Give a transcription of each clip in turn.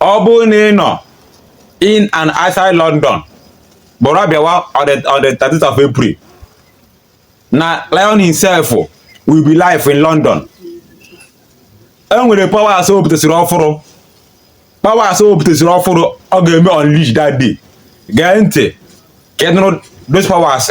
ọ bụrụ na ị nọ in and outside London buru bịawa on the on the 30th of April na Lion himself will be live in London e nwere powers o butesịrị ọfụrụ powers o butesịrị ọfụrụ ọ ga-eme unleash that day gee ntị ka ị nụrụ those powers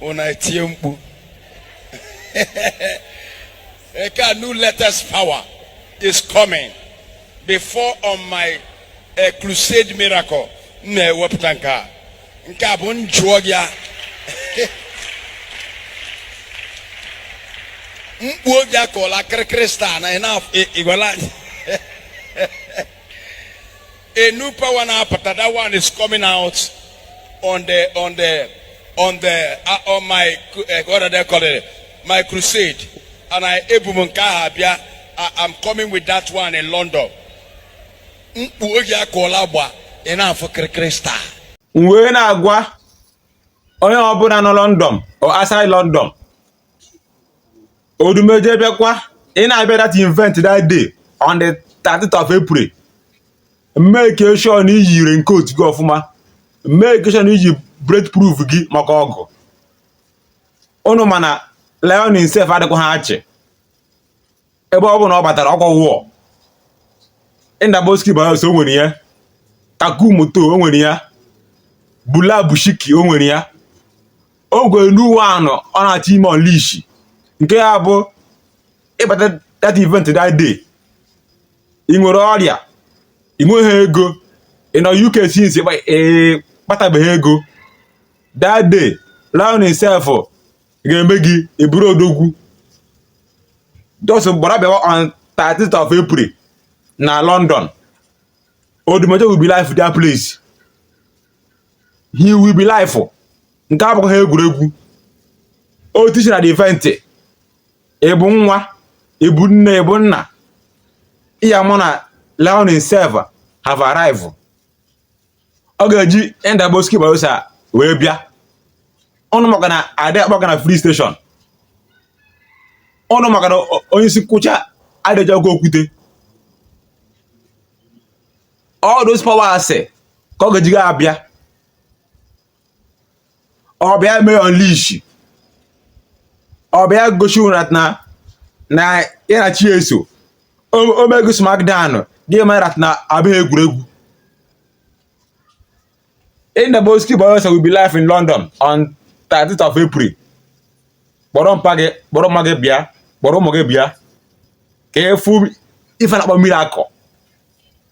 unu etie mkpu eke a new latest power is coming before on my eh, crusade miracle m na-ewepụta nke a nke a bụ njụọ gị a mkpu obi akọla kirikiri star na ị na-igwala anyị A new power now, but that one is coming out on the on the on the uh, on my uh, what are they call it? My crusade, and ebu m nke ahụ abịa. I'm coming with that one in London. Mkpu oge akụọla agba ị na-afụ kirikiri star. M wee na-agwa onye ọbụla nọ London or outside London Odumeje abịakwa ị na-abịa that event that day on the 30th of April make sure na i yi raincoat gị ọfụma make sure na i ji bulletproof gị maka ọgụ ụnụ ma na Lion himself adịkwaha achị ebe ọ bụ na ọ batara ọkwa wụọ Indaboski Bahose o nwere ya takumoto o nwere ya bula bushiki o nwere ya ogwe n'uwe anọ ọ na-achọ ime unleash nke ya bụ ị bata that event that day ị nwere ọrịa ị nweghị ego ị nọ UK since ị kpatabeghị ego that day Lion himself ga-eme gị ị bụrụ odogwu just gbara bịawa on 30th of April na London Odumeje will be live their place he will be live nke a abụkwaha egwuregwu o tichi na the event ị bụ nwa ị bụ nne ị bụ nna ị ya-ama na Lion himself have arrived ọ ga-eji Indaboski Bahose wee bịa ụnụ makwa na adị akpọ ọkụ na filling station ụnụ makwa na onye isi nkwọcha adịghị agwa okwute all those powers ka ọ ga-ejiga abịa ọ bịa mee unleash ọ bịa gosi ọra na ya na chi eso o mee gị smackdown gị mara na abụghị egwuregwu Indaboski Bahose will be live in London on 30th of April kpọrọ mpa gị kpọrọ mma gị bịa kpọrọ ụmụ gị bịa ka ị fụ ife a na-akpọ miracle